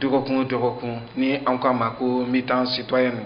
dɔgɔkun o dɔgɔkun ni an ko a ma ko mi-temps citoyenne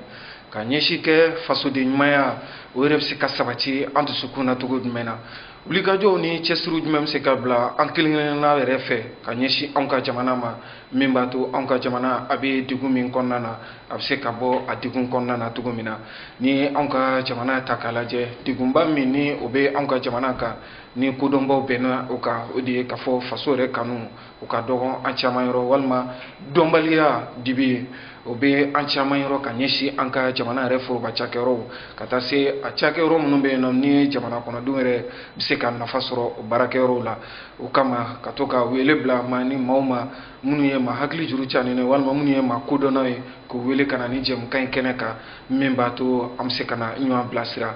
ka ɲɛsin kɛ fasoden ɲumanya o yɛrɛ bɛ se ka sabati an dusukun na cogo jumɛn na wulikajɔw ni cɛsiriw jumɛn bɛ se ka bila an kelen-kelenna yɛrɛ fɛ ka ɲɛsin anw ka jamana ma min b'a to anw ka jamana a bɛ degun min kɔnɔna na a bɛ se ka bɔ a degun kɔnɔna na cogo min na ni anw ka jamana ta k'a lajɛ degunba min ni o bɛ anw ka jamana kan ni kodɔnbaw bɛnna o kan o de ye k'a fɔ faso yɛrɛ kanu o ka dɔgɔ an caman yɔrɔ walima dɔnbaliya dibi ye o bɛ an caman yɔrɔ ka ɲɛsin an ka jamana yɛrɛ foroba cakɛyɔrɔw ka taa se a cakɛyɔrɔ minnu bɛ yen nɔ ni ye jamana kɔnɔdenw yɛrɛ bɛ se ka nafa sɔrɔ o baarakɛyɔrɔw la o kama ka to ka wele bila maa ni maaw ma minnu ye maa hakili juru canin ye walima minnu ye maa kodɔnnaw ye k'u wele ka na ni jɛmukan in kɛnɛ kan min b'a to an bɛ se ka na ɲɔgɔn bilasira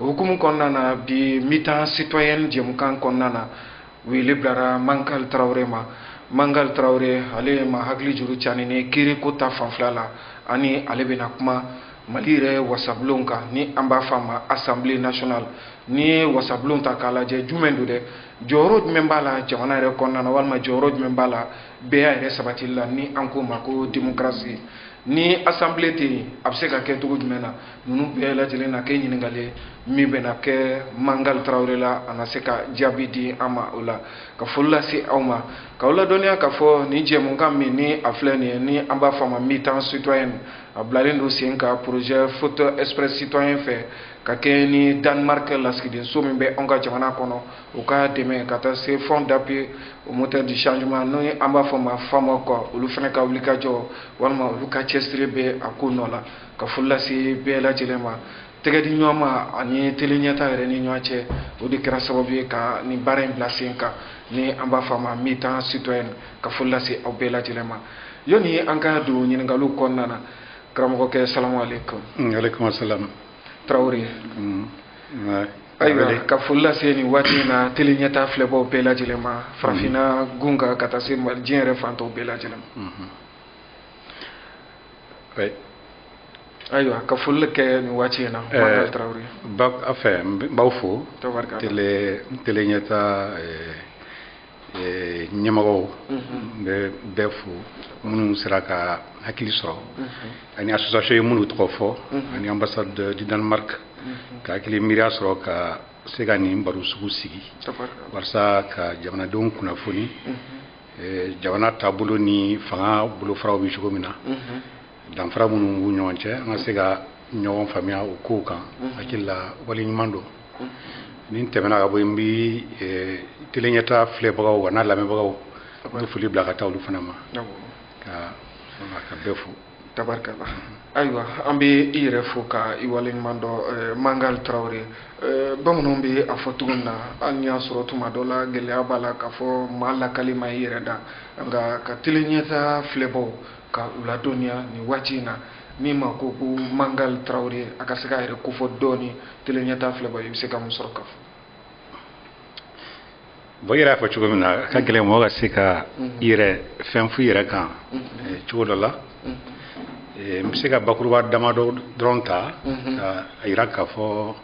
o hukumu kɔnɔna na bi mi-temps citoyenne jɛmukan kɔnɔna na wele bilara mangal tarawele ma mangal tarawele ale maa hakili juru canin ni kiiri ko ta fanfɛla la ani ale bɛna kuma mali yɛrɛ wasabulon kan ni an b'a f'a ma assemblée nationale n'i ye wasabulon ta k'a lajɛ jumɛn don dɛ jɔyɔrɔ jumɛn b'a la jamana yɛrɛ kɔnɔna na walima jɔyɔrɔ jumɛn b'a la bɛɛya yɛrɛ sabatili la ni an k'o ma ko démocratie ni assemblée tɛ yen a bɛ se ka kɛ cogo jumɛn na ninnu bɛɛ lajɛlen na kɛ ɲininkali ye min bɛna kɛ mangal tarawele la a na se ka jaabi di an ma o la ka foli lase aw ma k'aw ladɔnniya k'a fɔ nin jɛmukan min ni a filɛ nin ye ni an b'a fɔ a ma mi-temps citoyenne a bilalen don sen kan projet foot express citoyen fɛ ka kɛ ni danemark lasigidenso min bɛ anw ka jamana kɔnɔ u ka dɛmɛ ka taa se fonds d'appui aux moteurs du changement n'o ye an b'a fɔ ma FAMOC olu fana ka wulikajɔ walima olu ka cɛsiri bɛ a ko nɔ la ka foli lase bɛɛ lajɛlen ma tɛgɛ di ɲɔgɔn ma an ni tele ɲɛta yɛrɛ ni ɲɔgɔn cɛ o de kɛra sababu ye ka nin baara in bila sen kan ni an b'a fɔ a ma mi-temps citoyenne ka foli lase aw bɛɛ lajɛlen ma yanni an ka don ɲininkaliw kɔnɔna na karamɔgɔkɛ salamu aleykum. Mm, aleykum salam. tarawele. Mm, ayiwa ka foli lase nin waati in na tele ɲɛta filɛbaaw bɛɛ lajɛlen ma mm-hmm. farafinna gun kan ka taa se diɲɛ yɛrɛ fan tɔw bɛɛ lajɛlen ma. Mm-hmm. oui. ayiwa ka foli kɛ nin waati in na. ɛɛ Mangal Tarawele. bon enfin n b'aw fo. tabarika tele tele ɲɛta ɛɛ ɛɛ ɲɛmɔgɔw. n bɛ bɛɛ fo minnu sera ka hakili sɔrɔ. ani association i ye minnu tɔgɔ fɔ. ani ambassade du Danemark. ka hakili miiriya sɔrɔ ka se ka nin baro sugu sigi. walasa ka jamanadenw kunnafoni. eh, jamana taabolo ni fanga bolofaraw bɛ cogo min na mhm. danfara minnu b'u ɲɔgɔn cɛ an ka se ka ɲɔgɔn faamuya o kow kan mhm. hakili la waleɲuman don mhm. ni n tɛmɛna ka bɔ yen n bɛ eh, tele ɲɛtaa filɛbagaw wa n'a lamɛnbagaw n bɛ foli bila ka taa olu fana ma ka ka bɛɛ fo tabarkala ayiwa an bɛ i yɛrɛ fo ka i waleɲuman dɔn eh, mangal tarawele eh, bamananw bɛ a fɔ cogo min na hali n'i y'a sɔrɔ tuma dɔ la gɛlɛya b'a la k'a fɔ maa lakali ma i yɛrɛ da nka ka tele ɲɛtaa filɛbaaw ka u ladɔnniya nin waati in na ni maa ko ko mangal tarawele a ka se k'a yɛrɛ kofɔ dɔɔni tele ɲɛtaa filɛbaaw i bɛ se ka mun sɔrɔ ka fɔ Bon i yɛrɛ y'a fɔ cogo min na a ka gɛlɛn mɔgɔ ka se ka i yɛrɛ fɛn fɔ i yɛrɛ kan cogo dɔ la n bɛ se ka bakuruba damadɔ dɔrɔn ta k'a yira k'a fɔ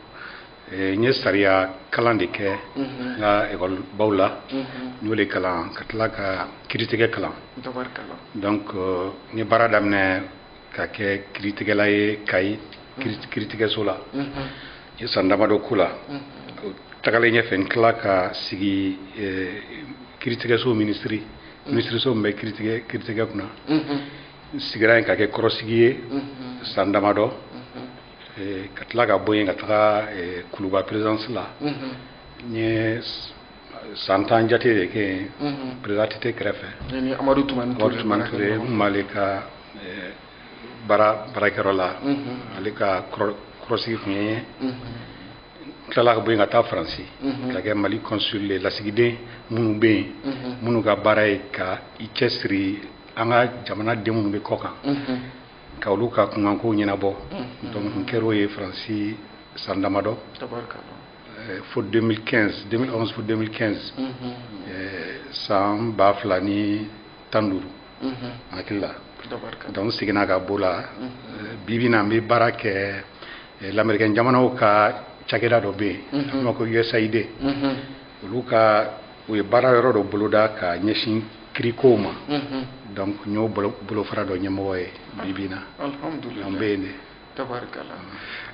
n ye sariya kalan de kɛ n ka ekɔlibaw la n y'o de kalan ka tila ka kiritigɛ kalan donc n ye baara daminɛ ka kɛ kiritigɛla ye kayi kiritigɛso la n ye san damadɔ k'o la tagalen ɲɛfɛ n tila ka sigi kiritigɛso minisiri minisiriso min bɛ kiritigɛ kunna n sigira yen ka kɛ kɔrɔsigi ye san damadɔ ka tila ka bɔ yen ka taga kuluba perezidansi la n ye san tan jate de kɛ yen perezidan att kɛrɛfɛ amadu tumani ture n m'ale ka eh, baara baarakɛyɔrɔ la ale ka kɔrɔsigi tun ye n ye tilala ka bɔ yen ka taa faransi mhm. ka kɛ mali consul ye lasigiden minnu bɛ yen mhm. minnu ka baara ye ka i cɛsiri an ka jamanaden minnu bɛ kɔ kan mhm. ka olu ka kunkanko ɲɛnabɔ donc n kɛr'o ye faransi san damadɔ Eh, fo 2015 2011 fo 2015 mhm. eh, san ba fila ni tan duuru mhm. hakili la donc seginna ka b'o la mhm. eh, bibi na n bɛ baara kɛ lamɛrikɛn jamanaw ka cakɛda dɔ bɛ yen an b'a ko usaid olu ka u ye baara yɔrɔ dɔ boloda ka ɲɛsin kirikow ma donc n y'o bolofara dɔ ɲɛmɔgɔ ye bibi na an bɛ yen de tabarikala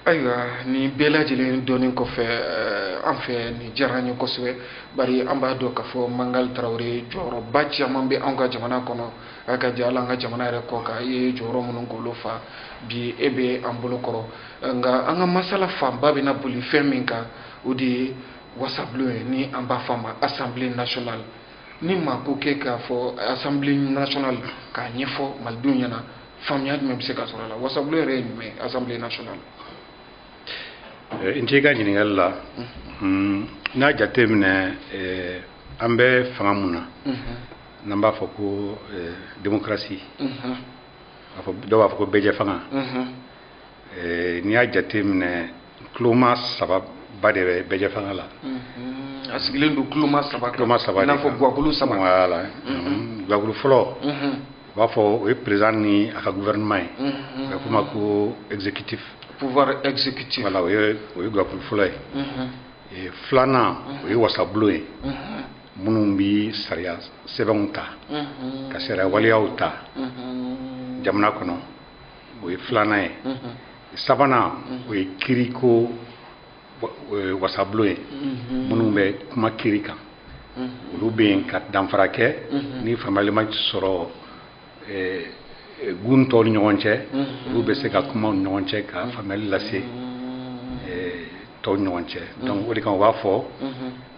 ayiwa nin bɛɛ lajɛlen dɔnni kɔfɛ eh, an fɛ nin diyara an ye kosɛbɛ bari an b'a dɔn k'a fɔ mangal tarawele jɔyɔrɔba caman bɛ anw ka jamana kɔnɔ a ka diya ala an ka jamana yɛrɛ kɔ kan i ye jɔyɔrɔ minnu k'olu fa bi e bɛ an bolo kɔrɔ eh, nka an ka masala fanba bɛna boli fɛn min kan o de ye wasabulon ye ni an b'a fɔ a ma assemblée nationale ni maa ko k'e k'a fɔ assemblée nationale k'a ɲɛfɔ malidenw ɲɛna faamuya jumɛn bɛ se ka sɔrɔ a la wasabulon yɛrɛ ye jumɛn ye assemblée nationale nci ka ɲininkali la n'a jateminɛ an bɛ fanga mun na n'an b'a fɔ ko démocratie dɔw b'a fɔ ko bɛɛjɛ fanga eh, n'i y'a jate minɛ kuloma saba ba de bɛ bɛɛjɛ fanga la mm-hmm. a sigilen don kuloma saba kan kuloma saba i n'a fɔ guwakulu saba voilà mm-hmm. mm-hmm. guwakulu fɔlɔ u b'a fɔ o ye président ni a ka gouvernement ye a bɛ f'o ma ko exécutif pouvoir exécutif voilà o ye o ye guwakulu fɔlɔ ye eh, filanan o ye wasabulon ye minnu bɛ sariya sɛbɛnw ta ka sariya waleyaw ta jamana kɔnɔ o ye filanan ye sabanan o ye kiriko wasabulon ye minnu bɛ kuma kiri kan olu bɛ yen ka danfara kɛ ni faamuyali ma sɔrɔ gun tɔw ni ɲɔgɔn cɛ olu bɛ se ka kuma u ni ɲɔgɔn cɛ ka faamuyali lase tɔw ni ɲɔgɔn cɛ donc o de kan u b'a fɔ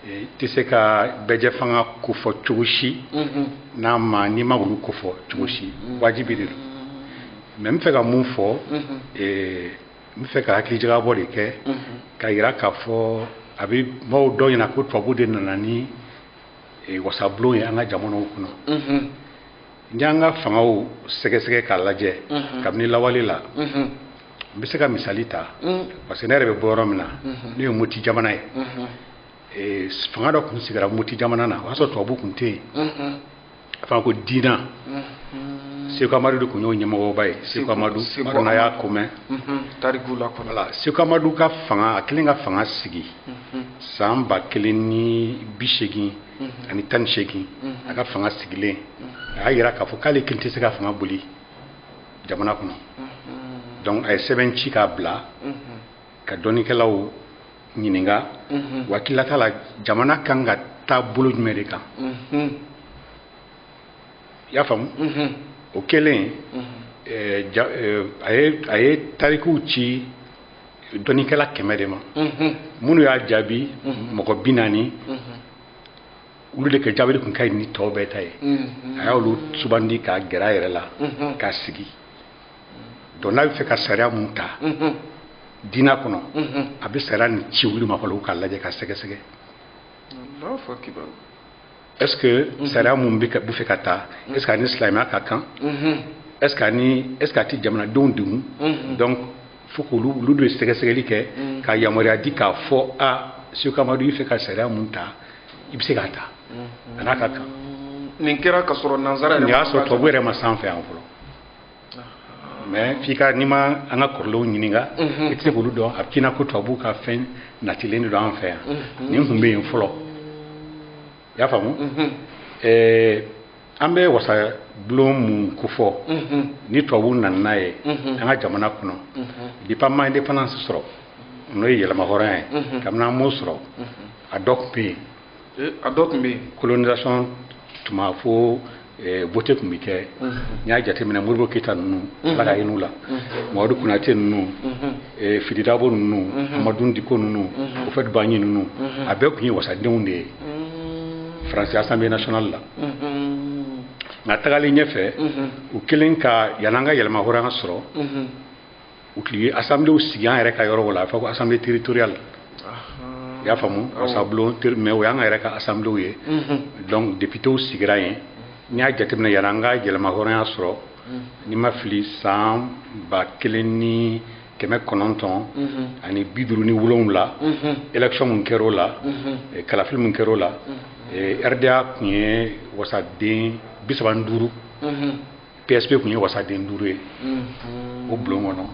i tɛ se ka bɛɛjɛ fanga kofɔ cogo si mhm. n'a ma n'i ma olu kofɔ cogo si mhm. wajibi de don mais n bɛ fɛ ka mun fɔ mhm. e, n bɛ fɛ ka hakilijagabɔ de kɛ ka yira k'a fɔ a bɛ maaw dɔw ɲɛna ko tubabu de nana ni e, wasabulon ye an ka jamanaw kɔnɔ n'i y'an ka fangaw sɛgɛsɛgɛ k'a lajɛ kabini lawale la n bɛ se ka misali ta mm. parce que ne yɛrɛ bɛ bɔ yɔrɔ min na mm-hmm. n'o ye moti jamana ye mm-hmm. eh, fanga dɔ tun sigira moti jamana na o y'a sɔrɔ tubabu tun tɛ yen mm-hmm. a fɔra ko diina seku amadu de tun y'o ɲɛmɔgɔba ye seku amadu n m'a dɔn n'a y'a ko mɛn tariku la voilà seku amadu ka fanga a kɛlen ka fanga sigi san ba kelen ni bi seegin ani tan ni seegin a ka fanga sigilen a y'a yira k'a fɔ k'ale kelen tɛ se ka fanga boli jamana kɔnɔ donc a ye sɛbɛn ci k'a bila ka dɔnnikɛlaw ɲininka u hakililata la jamana kan ka taa bolo jumɛn de kan i y'a faamu o kɛlen eh, ja- eh, a ye a ye tarikuw ci dɔnnikɛla kɛmɛ de ma minnu y'a jaabi mɔgɔ bi naani olu de ka jaabili tun ka ɲi ni tɔw bɛɛ ta ye mm-hmm. a y'olu sugandi k'a gɛrɛ a yɛrɛ la mm-hmm. k'a sigi donc n'a bɛ fɛ ka sariya mun ta mm-hmm. diina kɔnɔ a bɛ sariya nin ci olu ma fɔlɔ k'a lajɛ ka sɛgɛsɛgɛ est ce que sariya mun bɛ fɛ ka ta est ce que a ni silamɛya ka kan est ce que a ni est ce que a tɛ jamanadenw degun donc fo k'olu olu de sɛgɛsɛgɛli kɛ mm. ka yamaruya di k'a fɔ a seku amadu i fɛ ka sariya mun ta i bɛ se k'a ta mm-hmm. a n'a ka kan nin kɛra ka sɔrɔ nansara yɛrɛ nin y'a sɔrɔ tubabu yɛrɛ ma s'an fɛ yan fɔlɔ mais f'i ka n'i ma an ka kɔrɔlenw ɲininka mm-hmm. i tɛ se k'olu dɔn a bɛ k'i na ko tubabu ka fɛn natilen de don an fɛ yan mm-hmm. nin tun bɛ yen fɔlɔ i y'a faamu ɛɛ an bɛ wasabulon mun kofɔ ni tubabuw nana n'a ye an ka jamana kɔnɔ depuis an ma indépendance sɔrɔ n'o ye yɛrɛmahɔrɔnya ye kabini an m'o sɔrɔ a dɔ tun bɛ yen a dɔ tun bɛ yen colonisation tuma fo vote tun bɛ kɛ n'i y'a jateminɛ modibo keyita ninnu ala ka hin'u la mamadu konatɛ ninnu fili dabo ninnu amadun diko ninnu houphouët boigny ninnu a bɛɛ tun ye wasadenw de ye france assemblée nationale la nka tagalen ɲɛfɛ u kɛlen ka yan'an ka yɛrɛmahɔrɔnya sɔrɔ u tun ye assemblée sigi an yɛrɛ ka yɔrɔ la a fɔ ko assemblée territoriale i y'a faamu wasabulon mais o y'an ka yɛrɛ ka assemblée ye mhm. donc députés sigira yen n'i y'a jateminɛ yan'an ka yɛrɛmahɔrɔnya sɔrɔ mhm. ni n ma fili san ba kelen ni kɛmɛ kɔnɔntɔn mhm. ani bi duuru ni wolonwula élection mun kɛra o la eh, kalafili mun kɛra o la eh, rda tun ye wasaden bi saba ni duuru PSP tun ye wasaden duuru ye o bulon kɔnɔ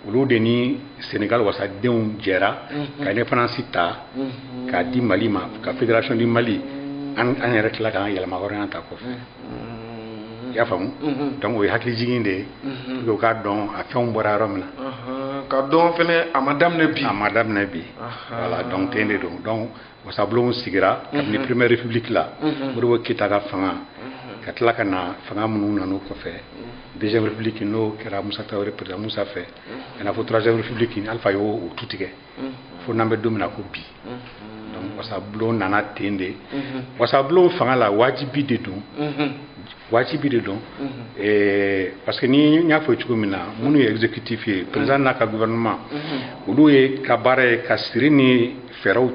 olu de ni Senegal wasadenw jɛra ka indépendance ta k'a di Mali ma ka fédération du Mali an yɛrɛ tila k'an yɛrɛmahɔrɔnya ta kɔfɛ i y'a faamu donc o ye hakilijigin de ye pour que u k'a dɔn a fɛnw bɔra yɔrɔ min na ka dɔn fɛnɛ a ma daminɛ bi a ma daminɛ bi voilà donc ten de don donc wasabulon sigira kabini première république la modibo keyita ka fanga ka tila ka na fanga minnu nana o kɔfɛ deuxième république n'o kɛra musa tarawele président musa fɛ ka na fo troisième république alifa y'o tu tigɛ fo n'an bɛ don min na ko bi wasabulon nana ten de wasabulon fanga la wajibi de don wajibi de don parce que ni n y'a fɔ cogo min na minnu ye exécutif ye président n'a ka gouvernement olu ye ka baara ye ka siri ni fɛɛrɛw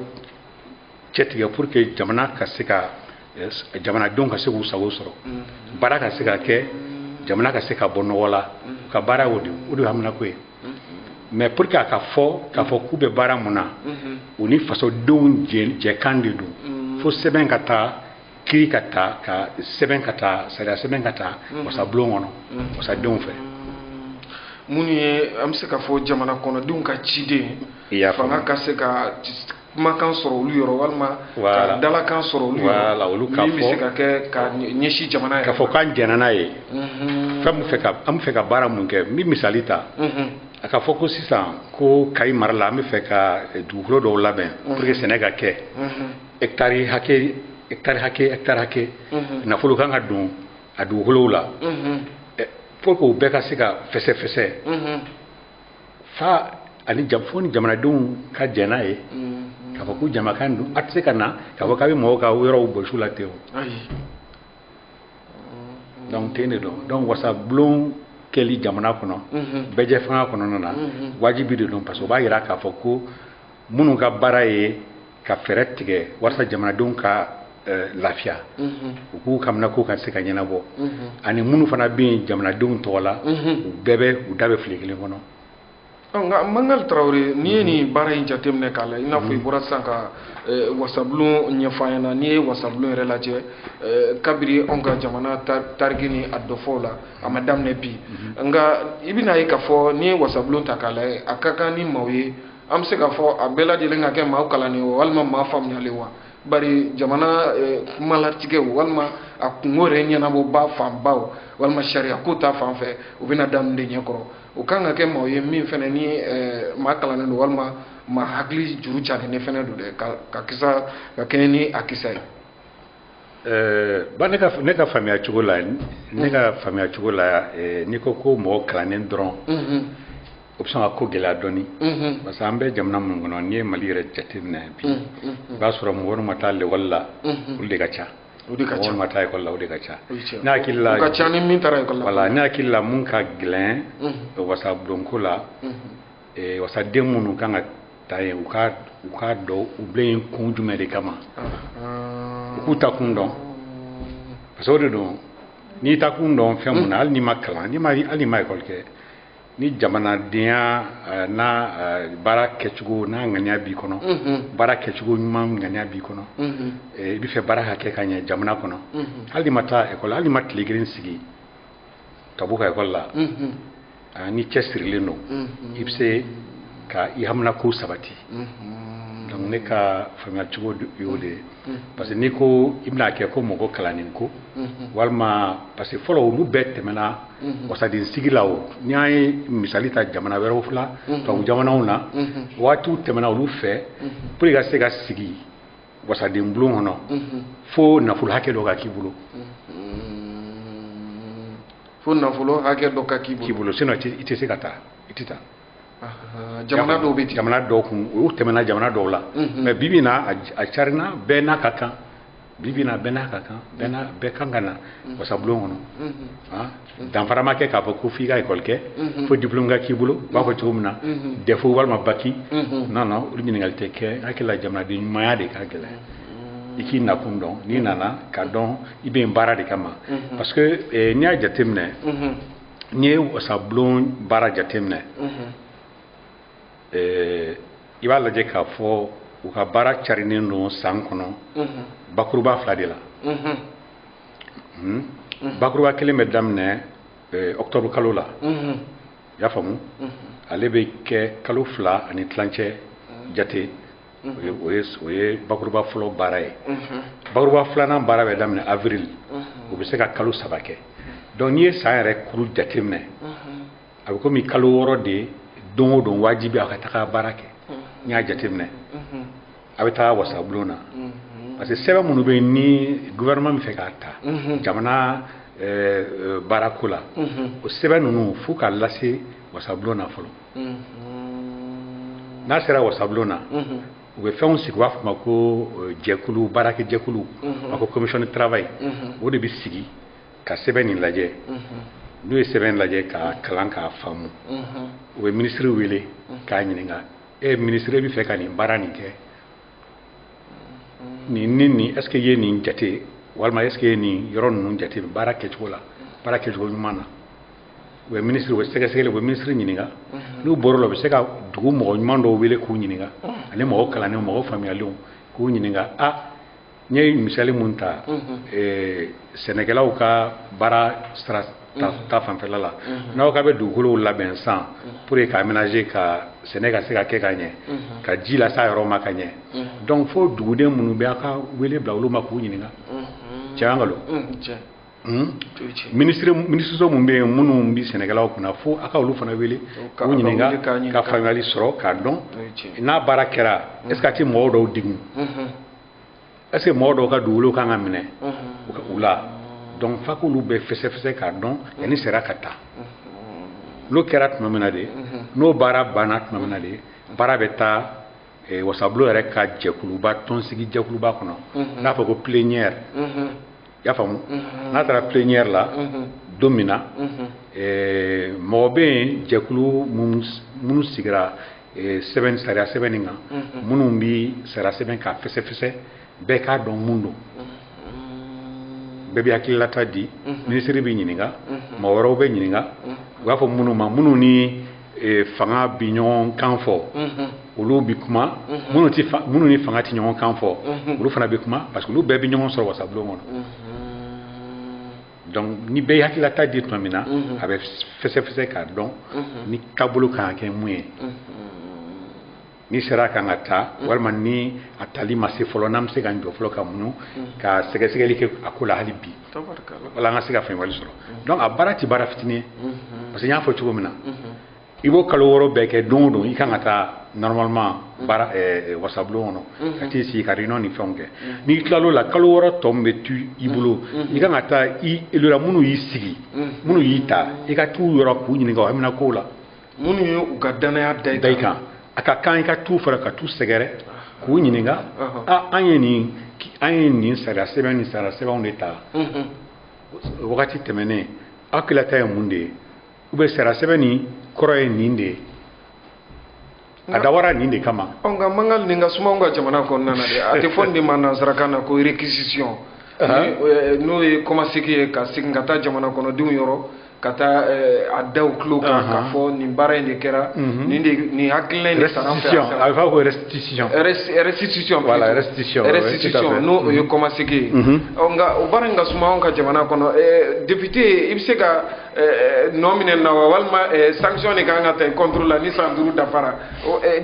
cɛtigɛ pour que jamana ka se ka jamanadenw ka se k'u sago sɔrɔ baara ka se ka kɛ jamana ka se ka bɔ nɔgɔ la u ka baara o de o de haminako ye mais pour que a ka fɔ k'a fɔ k'u bɛ baara mun na u ni fasodenw jɛkan de don fo sɛbɛn ka taa kiri ka taa ka sɛbɛn ka taa sariya sɛbɛn ka taa mhm. wasabulon kɔnɔ mhm. wasadenw fɛ mhm. minnu ye an bɛ se k'a fɔ jamana kɔnɔdenw ka ciden fanga ka se ka kumakan sɔrɔ olu yɔrɔ walima ka dalakan sɔrɔ olu yɔrɔ min bɛ se ka kɛ ka ɲɛsin jamana yɛrɛ k'a fɔ k'an jɛnna n'a ye fɛn min fɛ ka an bɛ fɛ ka baara mun kɛ n bɛ misali ta a k'a fɔ ko sisan ko kayi mara la an bɛ fɛ ka dugukolo dɔw labɛn pour que sɛnɛ ka kɛ hectare hakɛ hectare hakɛ hectare hakɛ nafolo kan ka don a dugukolo la pour que u bɛɛ ka se ka fɛsɛfɛsɛ fa ani fo ni jamanadenw ka jɛn n'a ye k'a fɔ ko jamakan don a tɛ se ka na k'a fɔ k'a bɛ mɔgɔw ka yɔrɔw bɔsi u la ten o donc ten de don donc wasabulon kɛli jamana kɔnɔ bɛɛjɛfanga kɔnɔna na wajibi de don parce que o b'a jira k'a fɔ ko minnu ka baara ye ka fɛɛrɛ tigɛ walasa jamanadenw ka eh, lafiya mhm. u k'u ka haminankow ka se ka ɲɛnabɔ mhm. ani minnu fana bɛ yen jamanadenw tɔgɔ la mhm. u da bɛ u da bɛ file kelen kɔnɔ nka mangali tarawele n'i ye nin baara in jateminɛ k'a la i n'a fɔ i bɔra sisan ka eh, wasabulon ɲɛfɔ an ɲɛna n'i ye wasabulon yɛrɛ lajɛ eh, kabiri anw ka jamana tariki ni a dɔfɔw la a ma daminɛ bi nka i bɛna ye k'a fɔ n'i ye wasabulon ta k'a lajɛ a ka kan ni maaw ye an bɛ se k'a fɔ a bɛɛ lajɛlen ka kɛ maa kalannen wa walima maa faamuyalen wa bari jamana eh, kumalatigɛw walima a kunko yɛrɛ ɲɛnabɔbaa fanbaw walima sariyako ta fan fɛ o bɛna da min de ɲɛ kɔrɔ o kan ka kɛ maaw ye min fɛnɛ ni eh, maa kalannen don walima maa hakili juru carinnen fɛnɛ don dɛ ka kisa ka kɛɲɛ ni a kisa ye Eh, ba ne ka ne ka faamuya cogo la ne ka faamuya cogo la eh, n'i ko ko mɔgɔ kalannen dɔrɔn mhm. o bɛ sɔn ka ko gɛlɛya dɔɔni mhm. parce que an bɛ jamana minnu kɔnɔ n'i ye mali yɛrɛ jateminɛ bi mhm, i b'a sɔrɔ mɔgɔ minnu ma taa lekɔli la olu de ka ca o de ka ca mɔgɔ minnu ma taa ekɔli la o de ka ca ne hakili la o ka ca ni min taara ekɔli la voilà ne hakili la mun ka gɛlɛn wasabulonko la Ee wasaden minnu kan ka taa yen u ka u k'a dɔn u bila yen kun jumɛn de kama u k'u ta kun dɔn parce que o de don n'i ta kun dɔn fɛn mun na hali n'i ma kalan n'i ma hali n'i ma ekɔli kɛ ni jamanadenya eh, n'a eh, baara kɛcogo n'a ŋaniya b'i kɔnɔ baara kɛcogo ɲuman ŋaniya b'i kɔnɔ eh, i bɛ fɛ baara ka kɛ ka ɲɛ jamana kɔnɔ hali n'i ma taa ekɔli hali n'i ma tile kelen sigi table kan ekɔli la ah, n'i cɛsirilen don mhm. i bɛ se ka i haminako sabati mhm. donc ne ka faamuya cogo y'o de ye mhm. parce que n'i ko i bɛna kɛ ko mɔgɔ kalannen ko walima parce que fɔlɔ olu bɛɛ tɛmɛna wasaden sigi la o ni an ye misali ta jamana wɛrɛw la tubabu jamanaw na waatiw tɛmɛna olu fɛ pour que i ka se ka sigi wasaden bulon kɔnɔ fo nafolo hakɛ dɔ ka k'i bolo fo nafolo hakɛ dɔ ka k'i bolo sinon i tɛ se ka taa i tɛ taa jamana dɔw bɛ ten jamana dɔw kun o tɛmɛna jamana dɔw la mais bi bi na a carina bɛɛ n'a ka kan bi bi na bɛɛ n'a ka kan bɛɛ n'a bɛɛ kan ka na wasabulon kɔnɔ danfara ma kɛ k'a fɔ ko f'i ka ekɔli kɛ fo diplôme ka k'i bolo u b'a fɔ cogo min na dɛfo walima baki non non olu ɲininkali tɛ kɛ n hakili la jamanaden ɲumanya de ka gɛlɛn i k'i nakun dɔn n'i nana k'a dɔn i bɛ yen baara de kama mhm. parce que eh, n'i y'a jateminɛ mhm. n'i ye wasabulon baara jateminɛ mhm. eh, i b'a lajɛ k'a fɔ u ka baara carinen don san kɔnɔ bakuruba fila de la hmm? bakuruba kelen bɛ daminɛ eh, octobre kalo la i y'a faamu ale bɛ kɛ kalo fila ani tilancɛ jate o ye bakuruba fɔlɔ baara ye bakuruba filanan baara bɛ daminɛ avril o bɛ se ka kalo saba kɛ donc n'i ye san yɛrɛ kuru jateminɛ a bɛ komi kalo wɔɔrɔ de don o don wajibi a ka taga baara kɛ n'i y'a jateminɛ a bɛ taa wasabulon na parce que sɛbɛn minnu bɛ ni gouvernement bɛ fɛ k'a ta jamana baarako la o sɛbɛn ninnu fo ka lase wasabulon na fɔlɔ n'a sera wasabulon na u bɛ fɛnw sigi u b'a fɔ ma ko eh, jɛkulu baarakɛ jɛkulu a ko commission de travail o de bɛ sigi ka sɛbɛn nin lajɛ n'u ye sɛbɛn lajɛ k'a kalan k'a faamu u bɛ minisiri wele k'a ɲininka e minisiri bɛ fɛ ka nin baara nin kɛ nin ni nin est ce que i ye nin jate walima est ce que i ye nin yɔrɔ ninnu jate baara kɛcogo la baara kɛcogo ɲuman na u bɛ minisiri u bɛ sɛgɛsɛgɛli u bɛ minisiri ɲininka n'u bɔr'o la u bɛ se ka dugu mɔgɔ ɲuman dɔw wele k'u ɲininka ani mɔgɔ kalannenw mɔgɔ faamuyalenw k'u ɲininka a n ye misali min ta eh, sɛnɛkɛlaw ka baara sira ta fanfɛla la n'aw ka bɛ dugukolow labɛn san pour que ka aménager ka sɛnɛ ka se ka kɛ ka ɲɛ ka ji lase a yɔrɔ ma ka ɲɛ donc fo duguden minnu bɛ a ka wele bila olu ma k'u ɲininka cɛ an kalo minisiri minisiriso minnu bɛ yen minnu bɛ sɛnɛkɛlaw kunna fo a ka olu fana wele k'u ɲininka ka faamuyali sɔrɔ k'a dɔn n'a baara kɛra est ce que a tɛ mɔgɔw dɔw degun est ce que mɔgɔ dɔw ka dugukolo kan ka minɛ u la donc fa k'olu bɛɛ fɛsɛfɛsɛ k'a dɔn yanni sariya ka ta n'o kɛra tuma min na de n'o baara banna tuma min na de baara bɛ taa eh, wasabulon yɛrɛ ka jɛkuluba tɔnsigi jɛkuluba kɔnɔ mhm. n'a fɔ ko plénière mhm. i y'a faamu mhm. n'a taara plénière la don min na eh, mɔgɔ bɛ yen jɛkulu minnu sigira eh, sɛbɛn sariya sɛbɛnni kan minnu bɛ sariya sɛbɛn k'a fɛsɛfɛsɛ bɛɛ k'a dɔn mun don bɛɛ bɛ hakililata di ministre bɛ ɲininka mɔgɔ wɛrɛw bɛ ɲininka u b'a fɔ minnu ma minnu ni eh, fanga bi ɲɔgɔn kan fɔ olu bɛ kuma minnu ti fa- minnu ni fanga ti ɲɔgɔn kan fɔ olu fana bɛ kuma parce que olu bɛɛ bɛ ɲɔgɔn sɔrɔ wasabulon kɔnɔ donc ni bɛɛ ye hakililata di tuma min na mhm. a bɛ fɛsɛfɛsɛ k'a dɔn mhm. ni taabolo kan ka kɛ mun ye mhm. ni sariya kan ka ta walima ni a tali ma se fɔlɔ n'an bɛ se ka jɔ fɔlɔ ka muɲu ka sɛgɛsɛgɛli kɛ a ko la hali bi wala an ka se ka faamuyali sɔrɔ donc a baara tɛ baara fitinin ye parce que n y'a fɔ cogo min na i b'o kalo wɔɔrɔ bɛɛ kɛ don o don i kan ka taa normalement mm. baara eh, eh, wasabulon kɔnɔ mm-hmm. ka t'i sigi ka réunion ni fɛnw kɛ mm-hmm. n'i tilal'o la kalo wɔɔrɔ tɔ min bɛ tu i bolo mm-hmm. i kan ka taa i elora minnu y'i sigi minnu y'i ta i ka t'u yɔrɔ k'u ɲininka o haminakow la minnu ye u ka danaya da i kan a ka kan i ka t'u fara ka t'u sɛgɛrɛ ah. k'u ɲininka uh-huh. a ah, an ye nin an ye nin sariya sɛbɛn ni sariya sɛbɛnw de ta wagati tɛmɛnen aw hakililata ye mun de ye ou bien sariya sɛbɛn nin kɔrɔ ye nin de ye a dabɔra nin de kama ɔ nka mankan nin ka suma anw ka jamana kɔnɔna na dɛ a tɛ fɔ nin de ma nansarakan na ko réquisition eh, n'o ye kɔmasegi ye ka segin ka taa jamana kɔnɔdenw yɔrɔ ka taa eh, a da u tulo kan k'a fɔ nin baara in de kɛra mhm. nin de nin hakilina in de sara an fɛ a bɛ fɔ ko restitution restitution voilà restitution restitution n'o o ye kɔmasegi ye ɔ nka o baara in ka suma anw ka jamana kɔnɔ eh, député i bɛ se ka Eh, eh, nɔ minɛ na wa walima eh, sanction de kan ka ta contre la ni san duuru dafara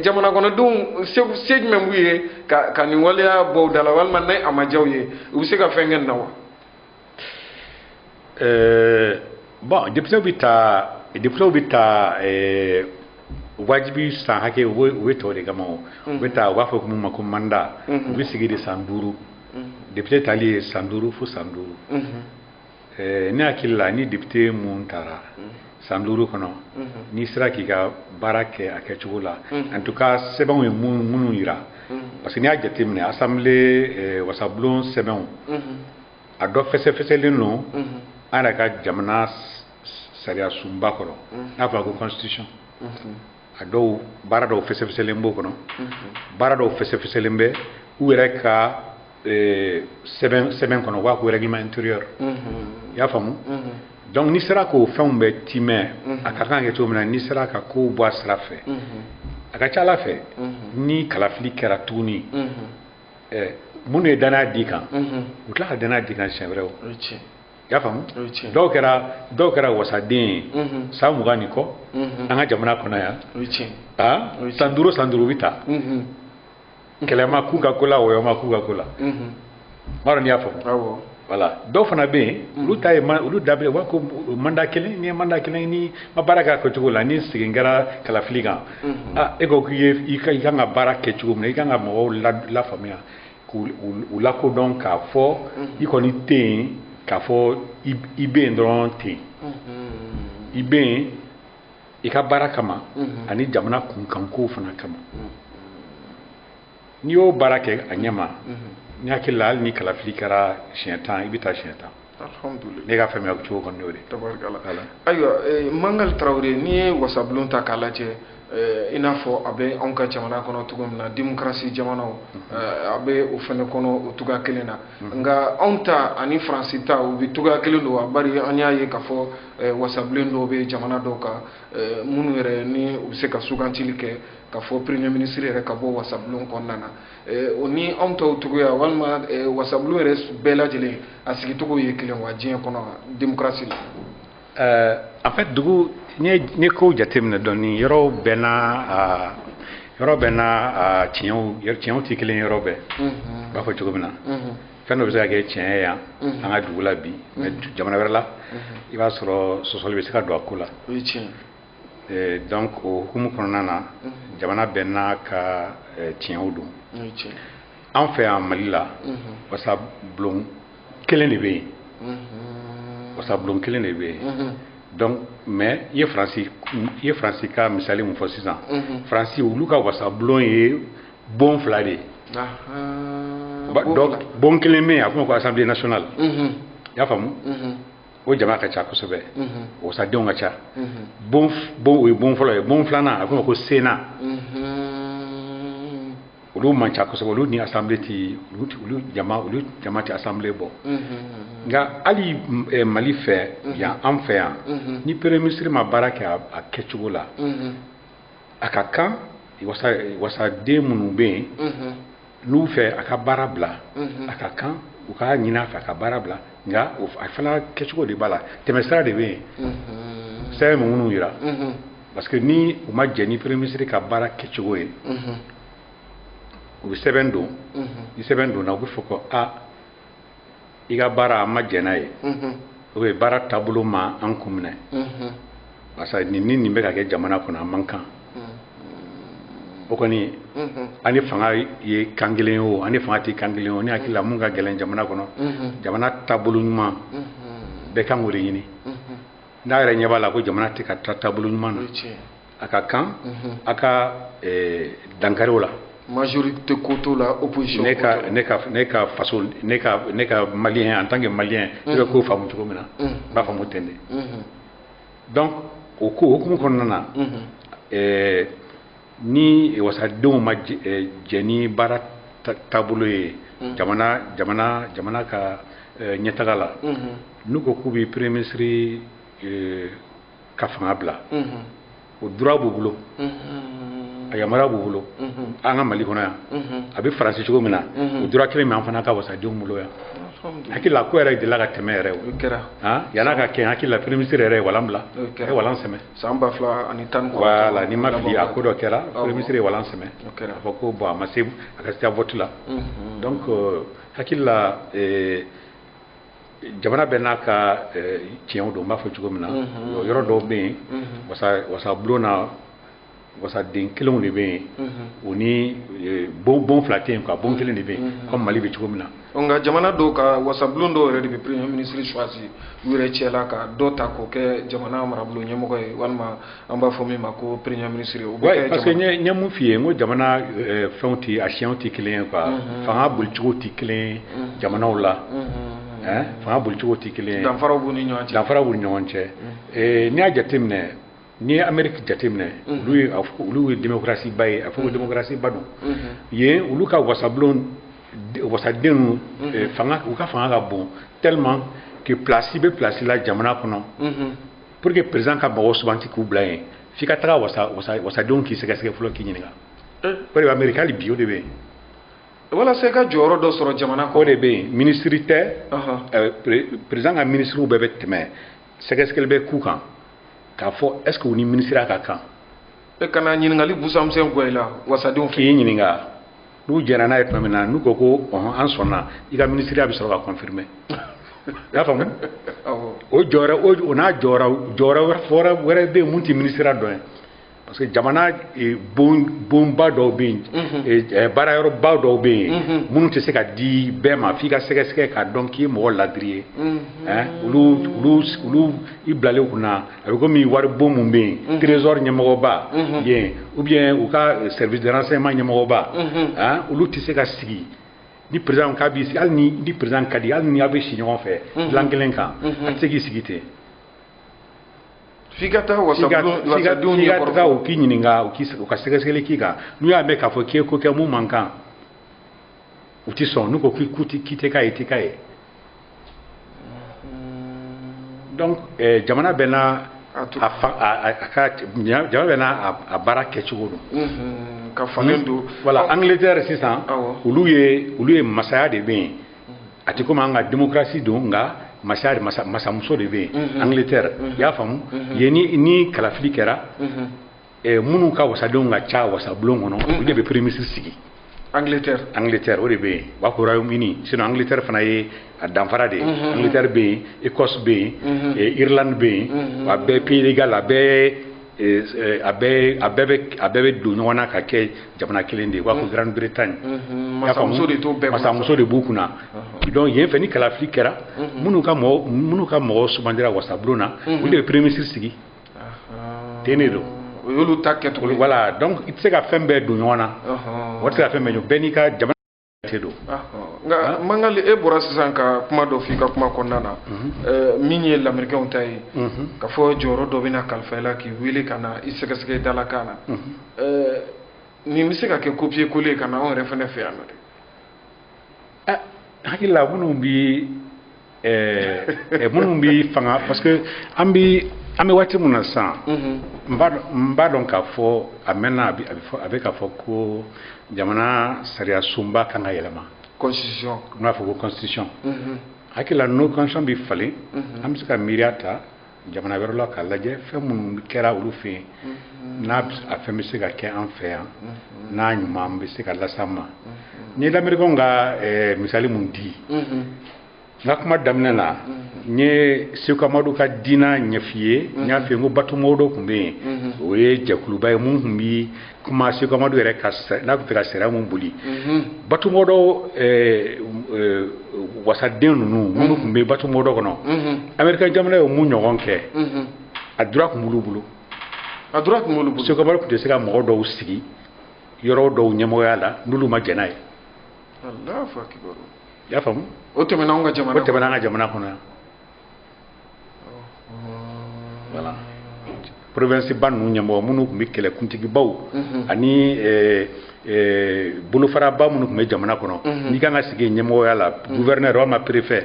jamana kɔnɔdenw se jumɛn b'u ye ka nin waleya bɔ u da la walima ni a ma diya u ye u bɛ se ka fɛn kɛ na wa bon députés bɛ ta députés bɛ ta wajibi san hakɛ u bɛ ta o de kama o u bɛ ta u b'a fɔ min ma ko mandat u bɛ sigi de san duuru député tali ye san duuru fo san duuru Eh, ne hakili la ni député mun tara mm. san duuru kɔnɔ mm-hmm. n'i sera k'i ka baara kɛ a kɛcogo la mm-hmm. en tout cas sɛbɛnw ye minnu yira mm-hmm. parce que n'i y'a jateminɛ assemblée eh, wasabulon sɛbɛnw a dɔ fɛsɛfɛsɛlen don an yɛrɛ ka jamana sariyasunba kɔrɔ n'a fɔra ko constitution a dɔw baara dɔw fɛsɛfɛsɛlen b'o kɔnɔ baara dɔw fɛsɛfɛsɛlen bɛ u yɛrɛ ka eh, sɛbɛn sɛbɛn kɔnɔ u b'a ko règlement intérieur i y'a faamu donc n'i sera k'o fɛnw bɛɛ timɛ a ka kan ka kɛ cogo min na n'i sera ka kow bɔ a sira fɛ a ka ca a la fɛ ni kalafili kɛra tuguni eh, minnu ye danaya d'i kan u tila ka danaya d'i kan siɲɛ wɛrɛ o o ye tiɲɛ i y'a faamu dɔw kɛra dɔw kɛra wasaden ye san mugan ni kɔ an ka jamana kɔnɔ yan san duuru san duuru u bɛ taa kɛlɛ ma k'u ka ko la wɔyɔ ma k'u ka ko la m'a dɔn n'i y'a faamu voilà dɔw fana bɛ yen olu ta ye olu da u b'a ko mandat kelen ni ye mandat kelen n'i ma baara k'a kɛcogo la ni segin kɛra kalafili kan e ko k'i ye i kan ka baara kɛ cogo min na i kan ka mɔgɔw lafaamuya u lakodɔn k'a fɔ i kɔni tɛ yen k'a fɔ i bɛ yen dɔrɔn ten i bɛ yen i ka baara kama ani jamana kunkankow fana kama n'i y'o baara kɛ a ɲɛma n hakili la hali ni kalafili kɛra siɲɛ tan i bɛ taa siɲɛ tan ne ka faamuya cogo kɔni y'o de ye ayiwa eh, mangali tarawele n'i ye wasabulon ta k'a lajɛ eh, i n'a fɔ a bɛ anw ka jamana kɔnɔ cogo min na demokarasi jamanaw mm-hmm. eh, a bɛ o fɛnɛ kɔnɔ o cogoya kelen na mm-hmm. nka anw ta ani faransi ta u bɛɛ cogoya kelen don wa bari an y'a ye k'a fɔ wasabulon dɔw bɛ jamana dɔw kan minnu yɛrɛ ni u bɛ se ka sugantili kɛ k'a fɔ premier ministre yɛrɛ ka bɔ wasabulon kɔnɔna na Eh, o ni anw tɔw cogoya walima eh, wasabulon yɛrɛ bɛɛ lajɛlen a sigicogo ye kelen wa diɲɛ kɔnɔ demokarasi la eh, en fait dugu n'i ye kow jateminɛ dɔɔnin yɔrɔw bɛɛ n'a ah, yɔrɔ bɛɛ n'a ah, tiɲɛw tiɲɛw tɛ kelen yɔrɔ bɛɛ mhm. n b'a fɔ cogo min na mhm. fɛn dɔ bɛ se ka kɛ tiɲɛ ye yan mhm. an ka dugu la bi mais jamana wɛrɛ la i b'a sɔrɔ sɔsɔli bɛ se ka don a ko la Eh, donc o hukumu kɔnɔna na jamana bɛɛ n'a ka eh, tiɲɛw don o ye tiɲɛ an fɛ yan mali la wasabulon kelen de bɛ yen wasabulon kelen de bɛ yen donc mais i ye faransi i ye faransi ka misali mun fɔ sisan faransi olu ka wasabulon ye bon fila de ye Ba- dɔ- bon kelen bɛ yen a bɛ fɔ o ma ko assemblée nationale i y'a faamu o jama ka ca kosɛbɛ wasadenw ka ca bon o ye bon fɔlɔ ye bon filanan a bɛ fɔ o ma ko sénat olu man ca kosɛbɛ olu ni assemblée tɛ olu jama olu jama tɛ assemblée bɔ nka hali mali fɛ yan an fɛ yan ni premier ministre ma baara kɛ a kɛcogo la a ka kan wasaden minnu bɛ yen n'u fɛ a ka baara bila a ka kan u k'a ɲinin a fɛ a ka baara bila nka a fana kɛcogo de b'a la tɛmɛsira de bɛ yen sɛbɛn bɛ minnu yira parce que ni u ma jɛn ni premier ministre ka baara kɛcogo ye u bɛ sɛbɛn don ni sɛbɛn donna u bɛ fɔ ko aa i ka baara an ma jɛn n'a ye o bɛ baara taabolo ma an kun minɛ parce que nin ni nin bɛ ka kɛ jamana kɔnɔ a man kan o kɔni an ni fanga ye kan kelen ye o an ni fanga tɛ kan kelen ye o ne hakili la mun ka gɛlɛn jamana kɔnɔ jamana taabolo ɲuman bɛɛ kan k'o de ɲini n'a yɛrɛ ɲɛ b'a la ko jamana tɛ ka taa taabolo ɲuman na a ka kan a ka dankari o la majorité ko t'o la opposition ne ka ne ka ne ka faso ne ka ne ka malien en tant que malien ne bɛ ko faamu cogo min na n b'a faamu ten de donc o ko hukumu kɔnɔna na ɛɛ ni wasadenw ma jɛn ni baara taabolo ye jamana jamana jamana ka ɲɛtaga la n'u ko k'u bɛ premier ministre ka fanga bila o droit b'u bolo a yamaruya b'u bolo an ka mali kɔnɔ yan a bɛ Faransi cogo min na o droit kelen bɛ an fana ka wasadenw bolo yan hakili la a ko yɛrɛ delila ka tɛmɛ yɛrɛ o kɛra yan a ka kɛ hakili la premier ministre yɛrɛ ye walan bila a ye walan sɛmɛ san ba fila ani tan voilà ni n ma fili a ko dɔ kɛra premier ministre ye walan sɛmɛ a fɔ ko bon a ma se a ka se vote la donc hakili la jamana bɛɛ n'a ka tiɲɛw don n b'a fɔ cogo min na yɔrɔ dɔw bɛ yen wasabulon na wasaden kelenw de bɛ yen u ni bon bon fila tɛ yen quoi bon kelen de bɛ yen comme Mali bɛ cogo min na nka jamana dɔw ka wasabulon dɔw yɛrɛ de bɛ premier ministre choisi u yɛrɛ cɛ la ka dɔ ta k'o kɛ jamana marabolo ɲɛmɔgɔ ye walima an b'a fɔ min ma ko premier ministre o bɛ kɛ parce que n ye mun f'i ye n ko jamana euh, fɛnw tɛ a tiɲɛw tɛ kelen ye quoi mhm. fanga bolicogo tɛ kelen ye mhm. jamanaw la hein mhm. fanga bolicogo tɛ kelen ye danfaraw b'u ni ɲɔgɔn cɛ danfaraw b'u ni ɲɔgɔn cɛ n'i y'a jateminɛ n'i ye ameriki jateminɛ olu ye olu ye démocratie ba ye a fɔ ko démocratie ba don yen olu ka wasabulon wasadenw euh, fanga u ka fanga ka bon tellement que place bɛ place la jamana kɔnɔ pour que président ka mɔgɔw suganti k'u bila yen f'i ka taga wasa wasa wasadenw k'i sɛgɛsɛgɛ fɔlɔ k'i ɲininka o de bɛ ameriki hali bi o de bɛ yen walasa i ka jɔyɔrɔ dɔ sɔrɔ jamana kɔnɔ o de bɛ yen minisiri tɛ président ka minisiriw bɛɛ bɛ tɛmɛ sɛgɛsɛgɛli bɛ k'u kan k'a fɔ est ce que u ni minisiriya ka kan e ka na ɲininkali busanmisɛn gwan i la wasadenw k'i ɲininka n'u jɛnna n'a ye tuma min na n'u ko ko ɔhɔn an sɔnna i ka minisiriya bɛ sɔrɔ ka confirmer i y'a faamu o jɔyɔrɔ o n'a jɔyɔrɔ jɔyɔrɔ wɛrɛ bɛ yen mun tɛ minisiriya dɔ ye parce que jamana eh, bon bonba dɔw bɛ yen mhm. eh, eh, baara yɔrɔba dɔw bɛ yen mhm. minnu tɛ se ka di bɛɛ ma f'i ka sɛgɛsɛgɛ k'a dɔn k'i ye mɔgɔ ladiri ye mhm. olu olu olu i bilalen kunna a bɛ komi wari bon min bɛ yen trésor ɲɛmɔgɔba yen ou bien u ka service de renseignement ɲɛmɔgɔba han olu tɛ se ka sigi ni président k'a b'i sigi hali n'i ni président ka di hali ni aw bɛ si ɲɔgɔn fɛ dilan kelen kan a tɛ se k'i sigi ten f'i ka taa wasadenw wasadenw f'i ka taa u k'i ɲininka u k'i u ka sɛgɛsɛgɛli k'i kan n'u y'a mɛn k'a fɔ k'i ye ko kɛ mun man kan u tɛ sɔn n'u ko k'i k'u tɛ k'i tɛ k'a ye i tɛ k'a ye donc eh, jamana bɛɛ n'a a to- a fa- a- a- a ka jamana bɛɛ n'a a- a baara kɛcogo don Mhm, ka falen don voilà Ɔ, angleterre sisan Awɔ. olu ye olu ye masaya de bɛ yen a tɛ komi an ka démocratie don nka masaya de masa masamuso de bɛ yen Mhm. angleterre i y'a faamu yen ni ni kalafili kɛra Mhm. eh, minnu ka wasadenw ka ca wasabulon kɔnɔ olu de bɛ premier ministre sigi angleterre angleterre o de bɛ yen u b'a fɔ royaume uni sinon angleterre fana ye a danfara de ye angleterre bɛ yen écosse bɛ yen eh, irlande bɛ yen a bɛɛ pays de galles a bɛɛ eh, eh, a bɛɛ a bɛɛ bɛ a bɛɛ bɛ don ɲɔgɔn na ka kɛ jamana kelen de ye u b'a fɔ grande bretagne masamuso de t'o bɛɛ masamuso de b'u kunna donc yen fɛ ni kalafili kɛra minnu ka mɔgɔ minnu ka mɔgɔ sugandira wasabulon na olu de bɛ premier ministre sigi ten de don o y'olu ta kɛcogo ye voilà donc i tɛ se ka fɛn bɛɛ don ɲɔgɔn na o tɛ se ka fɛn bɛɛ don bɛɛ n'i ka jamana de don nka mangali e bɔra sisan ka kuma dɔ f'i ka kuma kɔnɔna na mhm. min ye lamerikɛnw ta ye mhm. ka fɔ jɔyɔrɔ dɔ bɛna kalifa i la k'i wele ka na i sɛgɛsɛgɛ dalakan na mhm. nin bɛ se ka kɛ copier coller ka na anw yɛrɛ fana fɛ yan nɔ dɛ ah, hakili la minnu bi ɛɛ minnu bi fanga parce que an bi an bɛ waati min na sisan mhm. n b'a dɔn k'a fɔ a mɛnna a bɛ fɔ a bɛ k'a fɔ ko jamana sariya sunba kan ka yɛlɛma constitution n b'a fɔ ko constitution mhm. hakili la n'o constitution bɛ falen mhm. an bɛ se ka miiriya ta jamana wɛrɛ la k'a lajɛ fɛn minnu kɛra olu fɛ yen mm-hmm. n'a a fɛn bɛ se ka kɛ an fɛ yan mm-hmm. n'a ɲuman bɛ se ka las'an ma mm-hmm. n ye lamerikɛnw ka eh, misali mun di n ka kuma daminɛ na n ye seku amadu ka diina ɲɛf'i ye n y'a f'i ye n ko batu mawdo tun bɛ yen o ye jɛkuluba ye mun tun bi kuma Seku Amadu yɛrɛ ka n'a tun fɛ ka sariya mun boli mhm. batumɔdɔ eh, eh, wasaden ninnu mhm. minnu tun bɛ batumɔdɔ kɔnɔ mhm. amerikɛn jamana ye mun ɲɔgɔn kɛ a droit tun b'olu bolo a droit tun b'olu bolo Seku Amadu tun tɛ se ka mɔgɔ dɔw sigi yɔrɔ dɔw ɲɛmɔgɔya la n'olu ma jɛn n'a ye i y'a faamu o tɛmɛna an ka jamana kɔnɔ yan voilà province ba ninnu ɲɛmɔgɔ minnu tun bɛ kɛlɛkuntigibaw mhm. ani eh, eh, bolofaraba minnu tun bɛ jamana kɔnɔ mhm. n'i kan ka sigi ɲɛmɔgɔya la mhm. gouverneur walima préfet